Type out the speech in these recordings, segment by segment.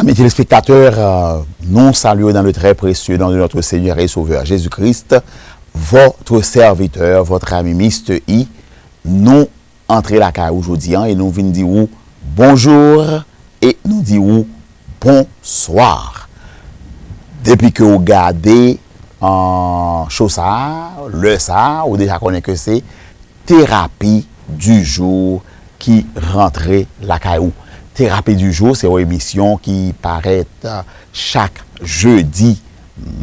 Ami telespektatè, nou salye ou nan le trè presye nan de notre Seigneur et Sauveur Jesus Christ, votre serviteur, votre ami Mister I, nou. antre lakay ou jodi an e nou vin di ou bonjour e nou di ou bonsoir depi ke ou gade show sa lè sa ou deja konnen ke se terapi du jour ki rantre lakay ou terapi du jour se yon emisyon ki parèt chak jeudi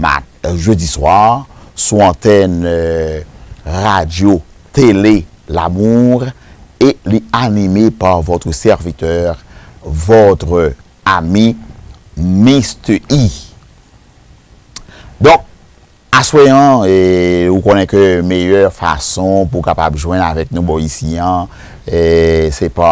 mat. Jedi swa, sou antèn Radyo Tele Lamour e li anime pa votre serviteur, votre ami Mister E. Donk, aswè an, ou konnen ke meyè fason pou w kapab jwenn avèk nou bò isi an, se pa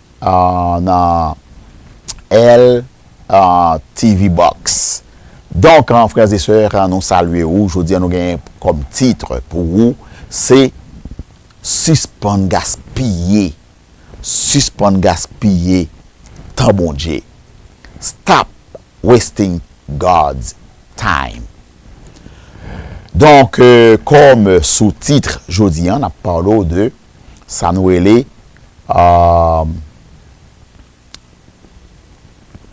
nan L TV box donk frères et sœurs nou salye ou jodi an nou genyen kòm titre pou ou se sispann gaspiye sispann gaspiye tan Bondye stop wasting God's time donk kòm sous titre jodi an nap pale w de. sa nou rele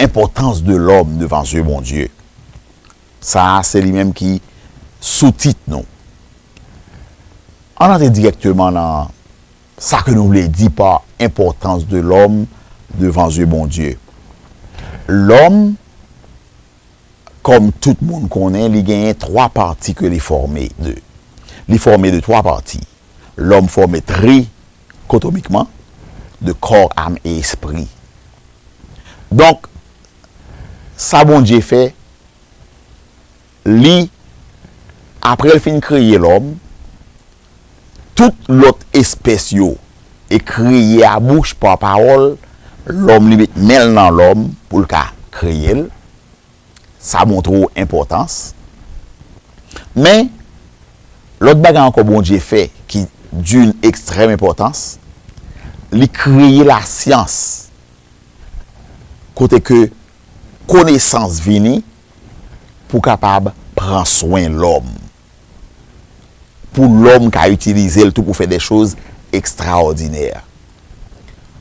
enpòtans de lòm devan zye Bondye. Sa a se li menm ki soutit nou. Ann antre dirèkteman nan sa ke nou vle di pa enpòtans de lòm devan zye Bondye. Lòm, kòm tout moun konnen, li genyen twa pati ke li fòme de. Li fòme de twa pati. Lòm fòme tri kotomikman de kò, am e espri. Donk, sa Bondye fè, Li, apre L fin kreye lòm, tout lòt espès yo e kreye a bouch pa pawòl, lòm li met men l nan lòm pou l ka kreye l. Sa montre w enpòtans. Men, lòt bagay ankò Bondye fè ki d'une extrême importance, li kreye lasyans kote ke konesans vini pou kapab pran swen lòm. pou lòm ka itilize l tou pou fè de choz ekstraòdinè.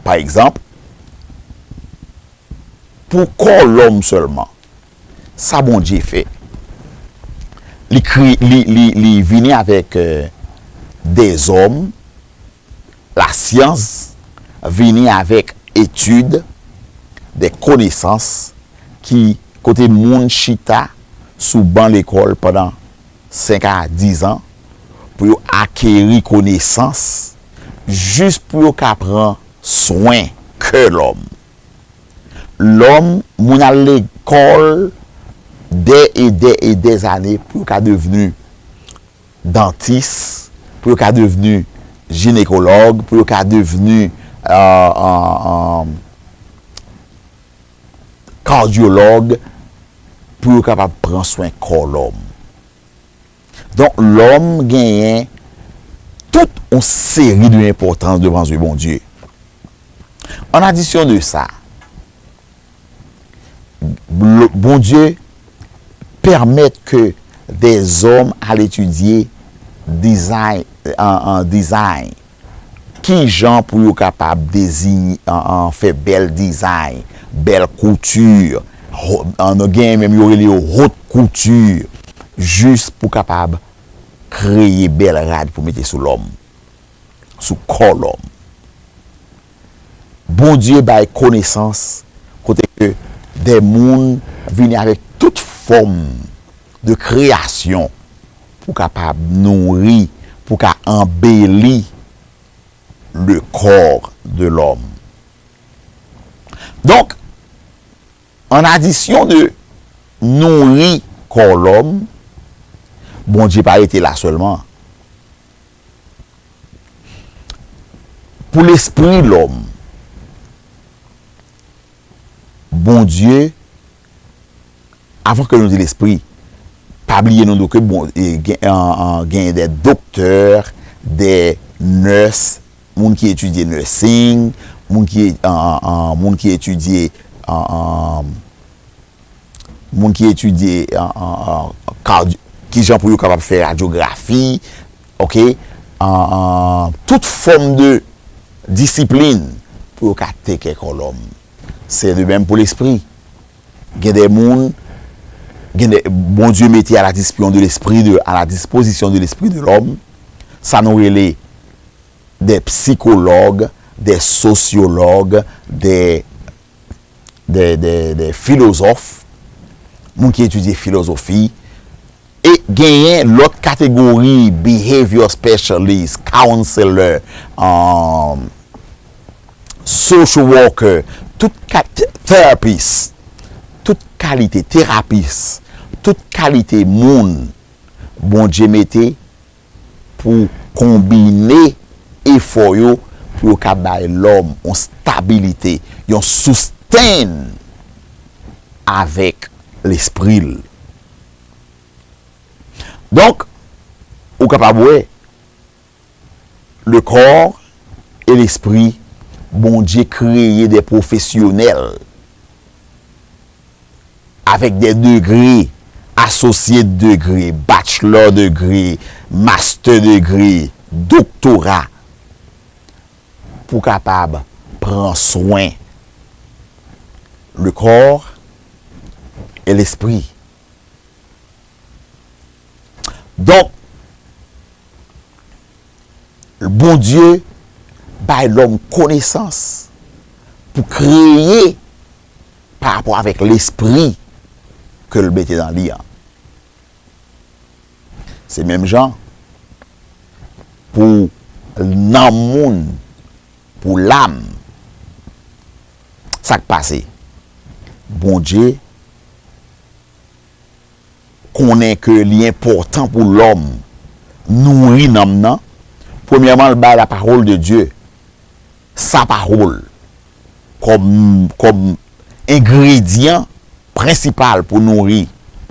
Pa egzanp, pou kò lòm sèlman, sa Bondye fè, li vini avèk de zòm, Lasyans vini avèk etid, de konesans ki kote moun chita sou ban lekòl pandan 5 a 10 an pou yo akeri konesans jis pou yo ka pran swen kè lòm. Lòm, moun al lekòl dè e dè e dè zane pou yo ka devni dantis, pou yo ka devni jinekològ, pou yo ka devni kadyològ, pou yo kapab pran swen kò lòm. Donk, lòm genyen tout yon seri de enpòtans devan zye Bondye. An adisyon de sa, Bondye pèmèt ke dè zòm al etidye dizay, ki jan pou yo kapab fè bèl dizay, bèl kouti, genyen menm yo rele yo hot kouti, jis pou kapab kreye bèl rad pou mete sou lòm, sou kò lòm. Bondye bay konesans kote ke de moun vini avèk tout fòm de kreyasyon pou kapab nouri, pou ka anbeli le corps de l'homme. Donk, an adisyon de nouri kò lòm, Bondye pa rete la sèlman. Pou lespri lòm, Bondye, avan ke nou di lespri, pa bliye nou do ke bon, genyen de doktè, de nès, moun ki etidye nursing, moun ki etidye, moun ki etidye kadi kijan pou yo kapab fè radyografi ok tout fòm de disiplin pou yo ka take kè kò lòm se de menm pou lespri gen de moun gen de bondye mete a la dispyon de lespri de a la dispozisyon de lespri de lòm sa nou rele de psikològ de sosyològ de de filozòf, moun ki etidye filozofi, e genyen lòt kategori behavior specialist, counselor, um, social worker, tout kat, therapist, tout kalite terapis, tout kalite moun Bondye mete, pou konbine efò yo pou yo ka bay lòm yon stabilite, yon sustain avèk lespri l. Donk, ou kapab wè, le corps et l'esprit, Bondye kreye de pwofesyonèl Avèk de degre, Associate Degree, Bachelor Degree, Master Degree, Doktora, pou kapab pran swen le corps et l'esprit. Donk, Bondye bay lòm konesans pou kreye pa rapò avèk lespri ke l mete nan li an. Se menm jan pou nanm moun, pou lam. Sa k pase? Bondye. konnen ke li enpòtan pou lòm nouri nanm nan, premyèman l bay la pawòl de Dye, sa pawòl, kòm, kòm engredyan prensipal pou nouri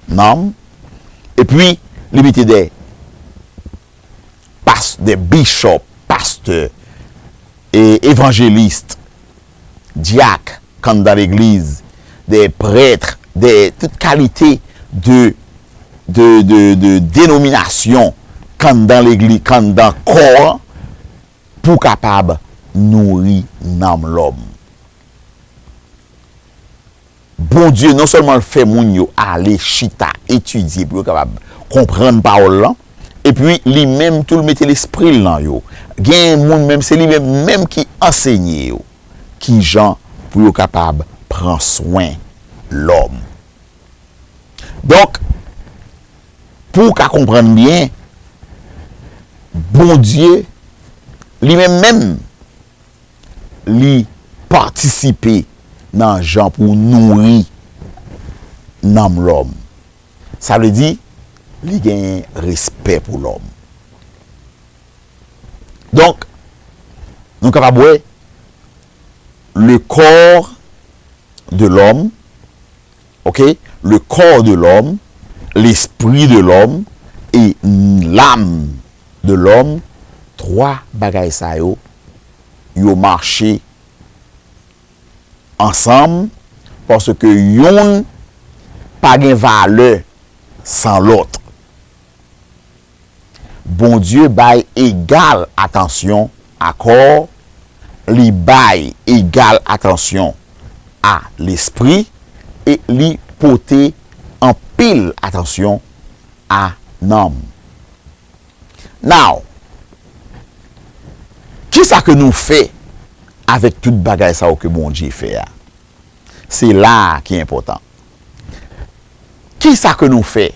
nanm, epi li mete dè. past des bishop pastè e evangeliste dyak kan dan legliz de prêtre de tout kalite de de de de denomination kan dan legli kan dan kò an pou kapab nouri nanm lòm. Bondye non sèlman l fè moun yo ale chita etidye pou yo kapab konprann Pawòl lan, epi li menm tou l mete lespri l nan yo. Gen moun menm se li menm menm ki ansenye yo ki jan pou yo kapab pran swen lòm. Donk, pou w ka konprann byen, Bondye li menm menm, li patisipe nan jan pou nouri nanm lòm. Sa vle di, li genyen respè pou lòm. Donk, nou kapab wè, le corps de l'homme, ok le corps de l'homme l'esprit de l'homme et l'âme de l'homme 3 bagay sa yo yo marche ansanm paske youn pa gen valè san lòt. Bondye bay egal atansyon a kò, li bay egal atansyon a lespri e li pote anpil atansyon a nanm. Now, kisa ke nou fè avèk tout bagay sa yo ke Bondye fè a? Se la a ki enpòtan. Kisa ke nou fè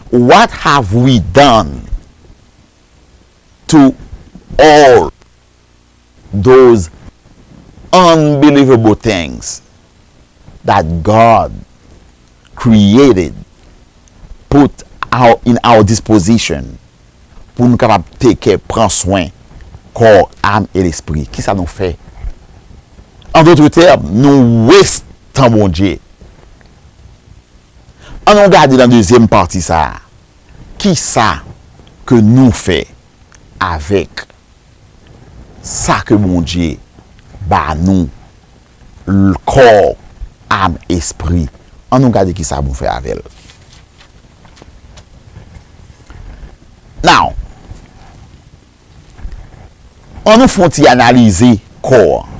What have we done to all those unbelievable things that God created, put in our disposition pou nou kapab take care, pran swen, kò, ame e lespri? Kisa nou fè? En d'autres termes, nou waste tan Bondye. An nou gade nan dezyèm pati sa a, kisa ke nou fè avèk sa ke Bondye ba nou, kò, am, espri. An nou gade kisa nou fè avè l. Now, an nou fè yon ti analize kò an.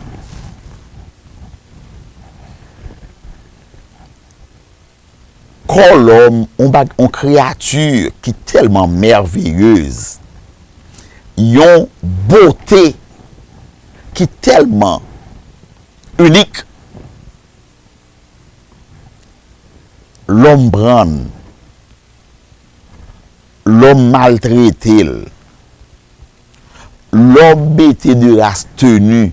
Kò lòm, on bag, on kreyati ki tèlman mèveyez, yon bote ki tèlman inik, lòm pran l, lòm maltrete l, lòm mete de ras teni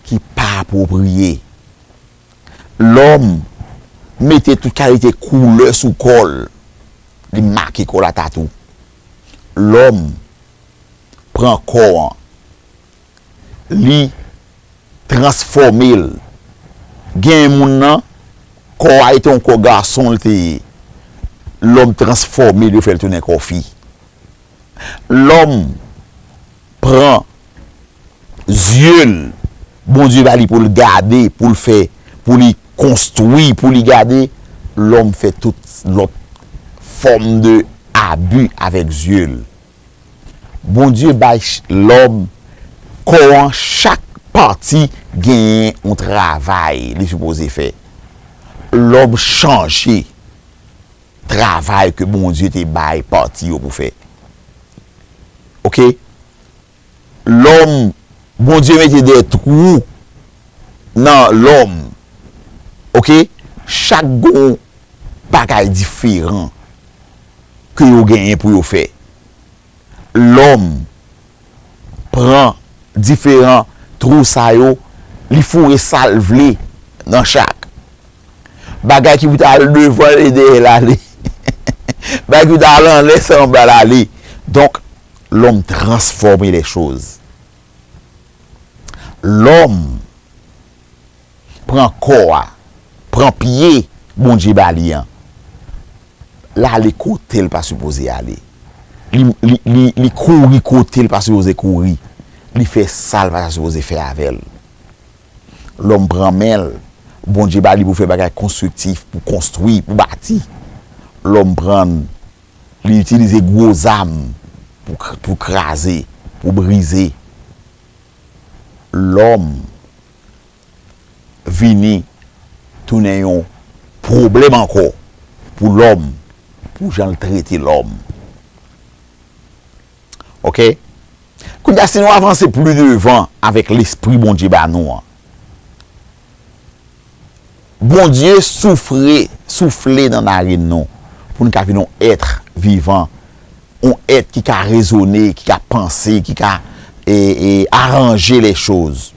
ki pa apwopriye. Lòm mete tout kalite koulè sou kò l, li make kò l a tatou. Lòm pran kò an, li transfòme l. Genyen moun nan, kò a e te yon kò gason l te ye, lòm transfòme l yo fè l tounen kò fi. lòm pran zye l Bondye ba li pou l gade, pou l fè, pou li konstwi, pou li gade, lòm fè tout lòt fòm de abi avèk zye l. Bondye bay lòm kò an chak pati genyen yon travay li sipoze fè. Lòm chanje. travay ke Bondye te bay pati yo pou fè ok lòm Bondye mete de twou nan lòm ok chak gon bagay diferan ke yo genyen pou yo fè lòm pran diferan twou sa yo, li foure sa l vle nan chak. Bagay ki pou ta al devan l e dèyè l ale. Bagay ki pou ta al anlè se anba l ale. Donk, lòm transfòme lèchoz. Lòm. pran kò a, pran pye Bondye ba li an, l ale kote l pa sipoze ale, li kouri kote l pa sipoze kouri, li fè sa l pa ta sipoze fè avè l. Lòm pran men l, Bondye ba li pou fè bagay konstriktif, pou konstwi, pou bati. Lòm pran, li itilize gwo zam pou kraze, pou brize. Lòm. vini tounen yon pwoblèm ankò pou lòm, pou jan l trete lòm. Ok? Kounye a, si nou avanse pli devan avèk lespri Bondye ba nou an. Bondye soufre, soufle nan narin nou pou n ka vin yon èt vivan, yon èt ki ka rezone, ki ka panse, ki ka aranje lèchoz.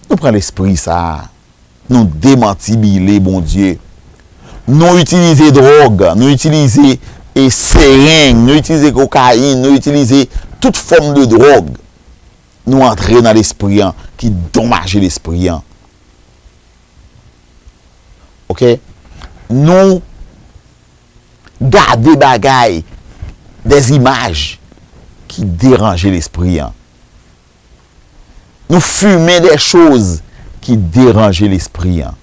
Nou pran lespri sa a, nou demantibile Bondye, nou itilize dwòg, nou itilize sereng, nou itilize kokayin, nou itilize tout fòm de dwòg Nou antre nan lespri an ki donmaje lespri an. Ok. Nou gade bagay des imaj ki deranje lespri an. Nou fume des choz ki deranje lespri an.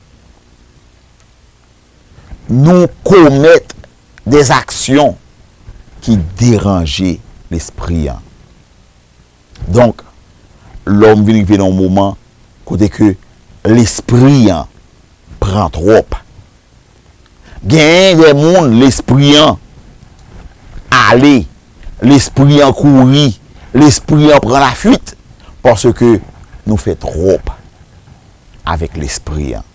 Nou komet des aksyon ki deranje lespri an. Donk, lòm vin rive nan yon moman kote ke lespri an pran twòp. Genyen de moun lespri an ale, lespri an kouri, lespri an pran lafuit paske nou fè twòp avèk lespri an.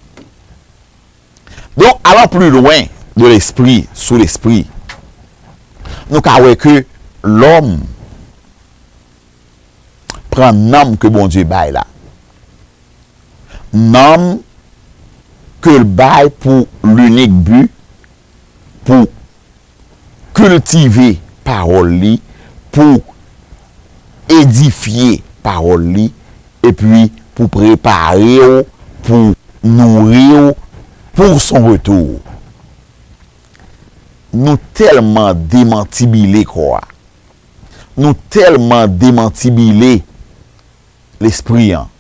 Donk, alan pli lwen de lespri sou lespri, nou ka wè ke lòm pran nanm ke Bondye bay la, nanm ke l bay pou linik bi pou. kiltive pawòl li, pou edifye pawòl li, epi pou prepare w, pou nouri w pou son retou. Nou tèlman demantibile kò a, nou tèlman demantibile lespri an,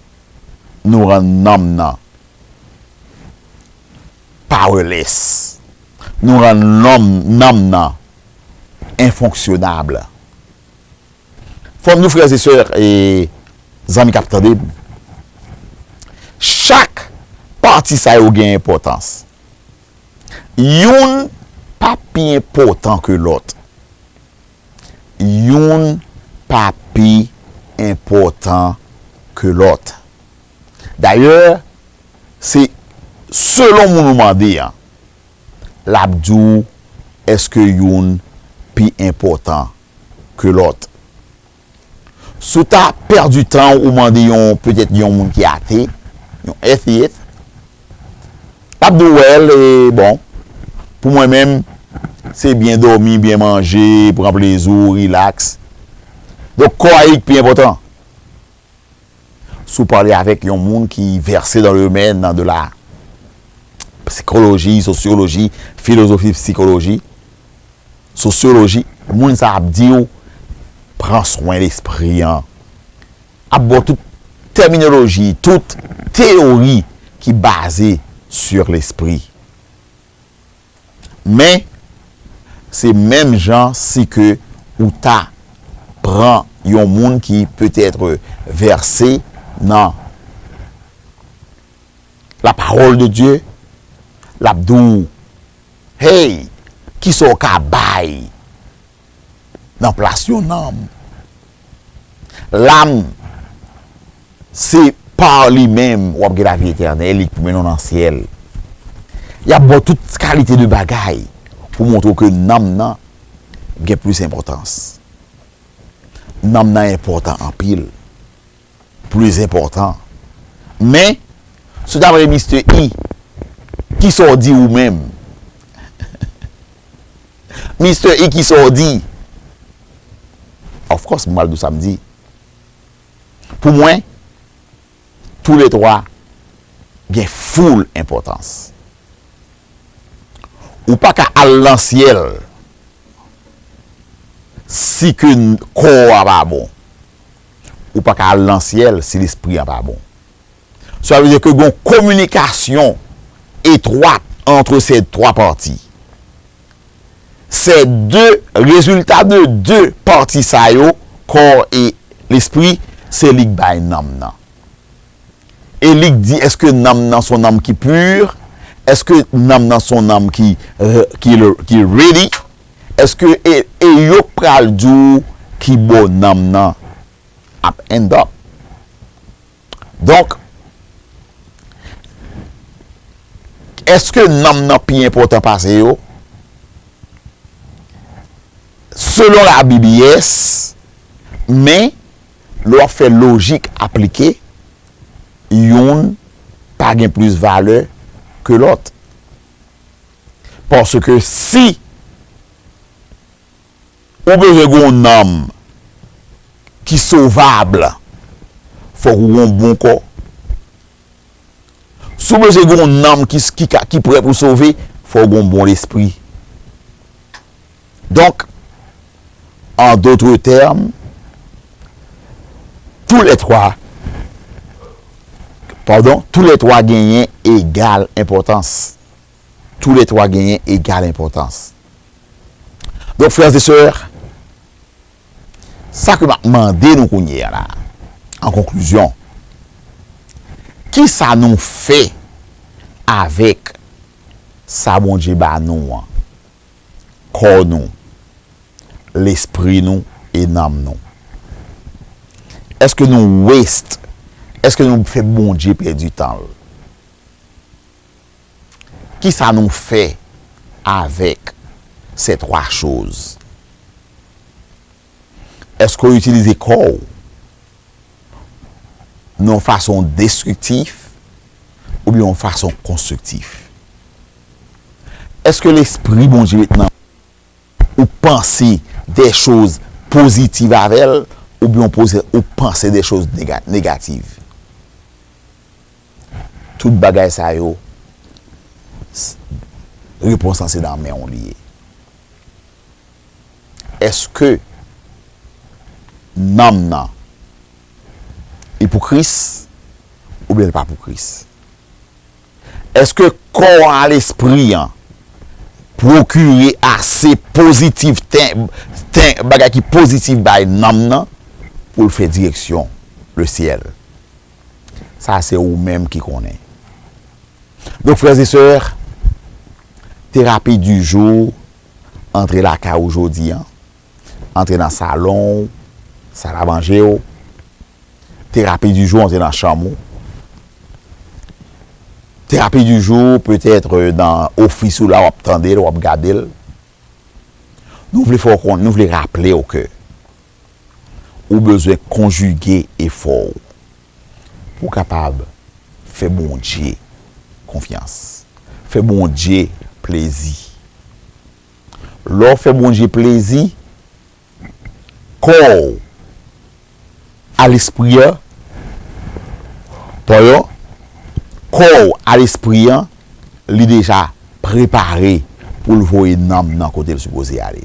nou rann nanm nan. Powerless. Nou rann lòm, nanm nan, infonctionnable. Fò m di w frères et sœurs e zanmi k ap tande m, chak pati sa yo gen enpòtans. Youn pa pi enpòtan ke lòt. Youn pa pi enpòtan ke lòt. Dayè, se selon moun ou mande an, l ap di w èske youn pi enpòtan ke lòt. Si w ta pèdi tan ou mande yon, petèt yon moun ki ate, yon atheist, l ap di w, well, e bon, pou mwen menm, se byen dòmi, byen manje, pran plezi w, relax. Donk kò a e ki pi enpòtan. Si w pale avèk yon moun ki vèse nan domèn de la psikoloji, sosyoloji, filozofi psikoloji, sosyoloji, moun sa ap di w pran swen lespri an. Ap ba w tout tèminoloji, tout teyori ki baze sur lespri. Men se menm jan si ke ou ta pran yon moun ki peut-être verse nan la parole de Dieu, l'ap di w, Hey, kisa w ka bay? nan plas yon nanm. Lanm se pa li menm w ap gen lavi etènèl, li koumen nou nan syèl. Y ap ba w tout kalite de bagay pou montre w ke nanm nan gen plis enpòtans. Nanm nan enpòtan anpil. plis enpòtan. Men, si w ta mande Mistè I, Ki sa w di ou menm? Mistè I, Ki sa w di? Of course, m pral di w sa m di. Pou mwen, tou le twa gen full enpòtans. Ou pa ka al nan syèl si ke kò a pa bon. ou pa ka al nan syèl si lespri an pa bon. Sela vle di ke gon kominikasyon etwat antre se twa pati. Se de rezilta de de pati sa yo, kò e lespri, se li k bay nanm nan. E li k di, èske nanm nan son nanm ki pur? Èske nanm nan son nanm ki ki ready? Èske e e yo k pral di w ki bò nanm nan ap end up. Donk, èske nanm nan pi enpòtan pase yo? Selon labib yes, men. Lè w ap fè lojik aplike, youn pa gen plis valè ke lòt. Paske si ou bezwen gen yon nanm ki sovab, fòk ou gen yon bon kò. Si w bezwen gen yon nanm ki prè pou sove, fò w gen yon bon lespri. Donk, an dotre tèm, tou lè twa, padon, tou lè twa genyen egal enpòtans. Tou lè twa genyen egal enpòtans. Donk, frères et sœurs, Sa ke m ap mande nou kounye a la, an konklizyon, kisa nou fè avèk sa Bondye ba nou an, kò nou, lespri nou e nanm nou? Èske nou waste, èske nou fè Bondye pèdi tan l? Kisa nou fè avèk sè twa choz? Èske w itilize kò w nan yon fason destriktif oubyen yon fason konstriktif? Èske Lespri Bondye met nan ou panse dè choz pozitiv avè l oubyen ou panse dè choz negativ? Tout bagay sa yo s repons lan se nan men w li ye. Eske nanm nan li pou Kris oubyen li pa pou Kris? Eske kò an a lespri an pwokire ase pozitiv ten ten bagay ki pozitiv bay nanm nan pou l fè direksyon le syèl? Sa se ou menm ki konnen. Donk frères et sœurs, terapi du jour antre lakay ou jodi an, antre nan salon ou, sal a manje ou, terapi du jour antre nan chanm ou, terapi du jour peut-être nan office ou la wap tande l, wap gade l. Nou vle fè w konnen, nou vle raple w ke. ou bezwen konjige efò w pou w kapab fè Bondye konfyans, fè Bondye plezi. Lè w fè Bondye plezi, kò w a lespri an, pardon, kò w a lespri an li deja prepare pou l voye nanm nan kote l sipoze ale.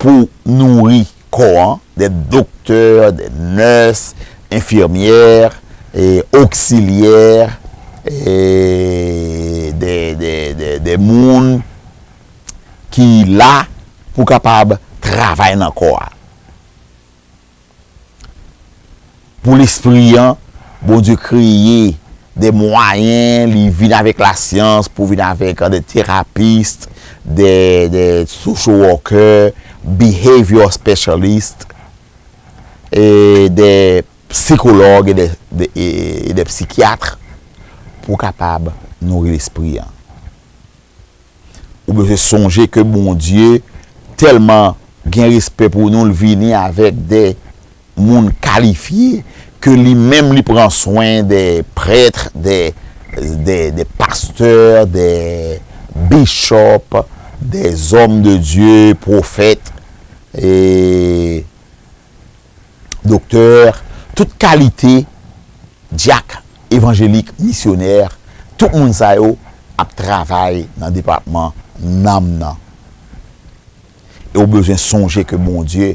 pou nouri kò an, dè doktè, dè nès, enfirmyè, oksilyè, dè moun ki la pou kapab travay nan kò a. Pou lespri an, Bondye kreye de mwayen, li vin avèk lasyans pou vin avèk de terapist, de social worker, behavior specialist, de psikològ e de psikyatr pou kapab nouri lespri an. Ou bezwen sonje ke Bondye tèlman gen respè pou nou l vini avèk de moun kalifye ke li menm li pran swen de prèt, de pastè, de bishop, de zòm de Dye, pwofèt. doktè, tout kalite dyak, evanjelik, misyonè, tout moun sa yo ap travay nan depatman nanm nan. E ou bezwen sonje ke Bondye,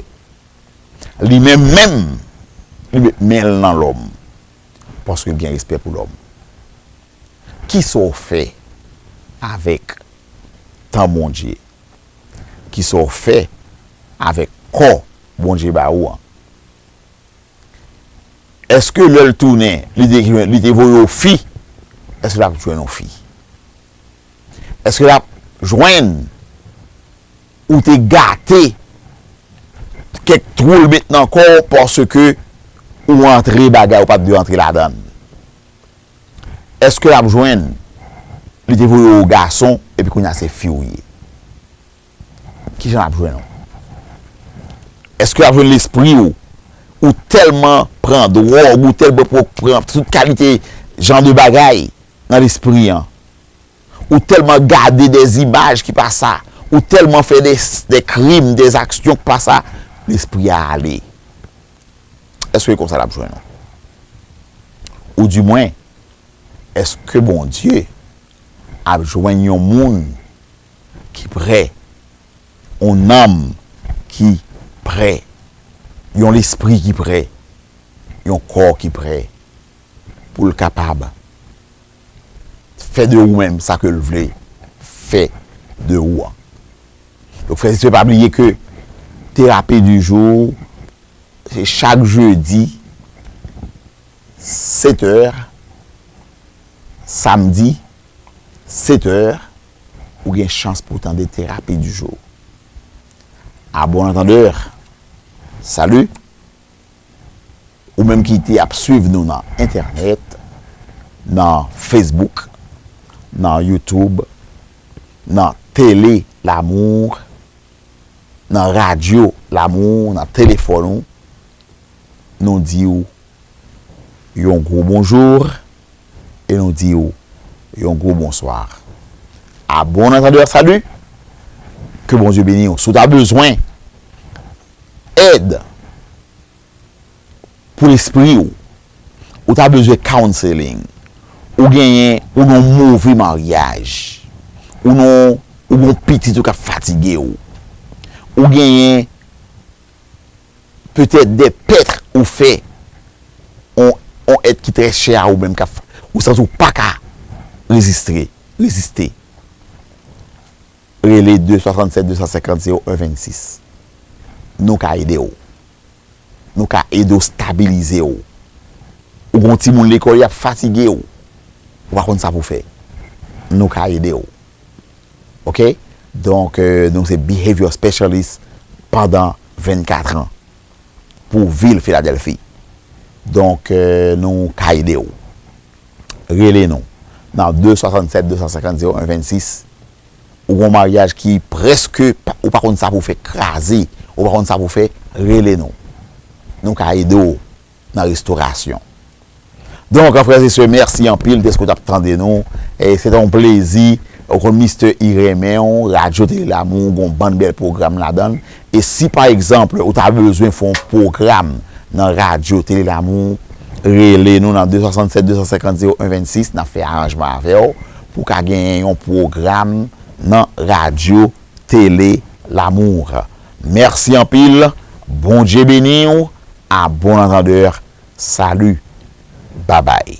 li menm menm, li met men l nan lòm, paske l gen respè pou lòm. Kisa w fè avèk tan Bondye? Ki sa w fè avèk kò Bondye ba ou an? Èske lè l tounen, li te voye w fi, èske l ap jwenn ou fi? Èske l ap jwenn ou te gate kèk twou l met nan kò w paske ou antre bagay ou pa t dwe antre ladan l? Eske lap jwenn li te voye ou gason epi kounya se fi ou ye kijan lap jwenn ou eske lap jwenn lespri ou ou telman pran drog ou telman pran tout kalite jan de bagay nan lespri an ou telman gade de imaj ki pa sa ou telman fè de krim de aksyon ki pa sa lespri a ale. Eske konsa l ap jwenn ou? Oudimwen, èske Bondye ap jwenn yon moun ki pre, yon nanm ki pre, yon lespri ki pre, yon kò ki pre pou l kapab Fè de ou menm sa ke l vle fè de ou an. Donk frè e sè pa bliye ke terapi di jou se chak jedi 7 è, samdi 7 è ou gen chans pou tande terapi di jou. A bon antandè, salut! Ou menm ki te ap swiv nou nan entènèt, nan Facebook, nan YouTube, nan Tele Lamour, nan Radyo Lamour, nan telefòn ou, nou di ou yon gwo bonjour e nou di ou yon gwo bonsoir. A bon antandeur salut! Ke Bondye beni ou. Si w ta bezwen. Èd pou lespri ou. Ou ta bezwen counseling. Ou genyen, ou nan yon move maryaj. Ou nan yon, ou gen yon pitit ou k ap fatige ou. Ou genyen petèt dè pèt ou fè yon, yon èt ki trè chè a ou menm k ap, ou santi ou pa ka rezistre, reziste. Rele 2 67 250 01 26 Nou ka ede w Nou ka ede w stabilize w Ou gen yon timoun lekòl y ap fatige w Ou pa konn sa pou w fè Nou ka ede w Ok Donk nou se Behavior Specialist pandan 24 an pou vil Filadèlfi Donk nou ka ede w. rele nou nan 2 67 250 01 26 ou gon maryaj ki preske ou pa konn sa pou fè kraze ou pa konn sa pou fè rele nou nou ka ede w nan restorasyon donk frè se sè mèsi anpil deske w tap tande nou e se te yon plezi ou konn mistè I renmen w radyo tele lamou gon bann bèl pwogram ladan l. E si pa egzanp ou ta bezwen fè yon pwogram nan radyo Tele Lamou, rele nou nan 267 250 01 26 nap fè aranjman avèw pou ka genyen yon pwogram nan radyo Tele Lamour. Mèsi anpil, Bondye beniw, a bon antandeur, salut, babay.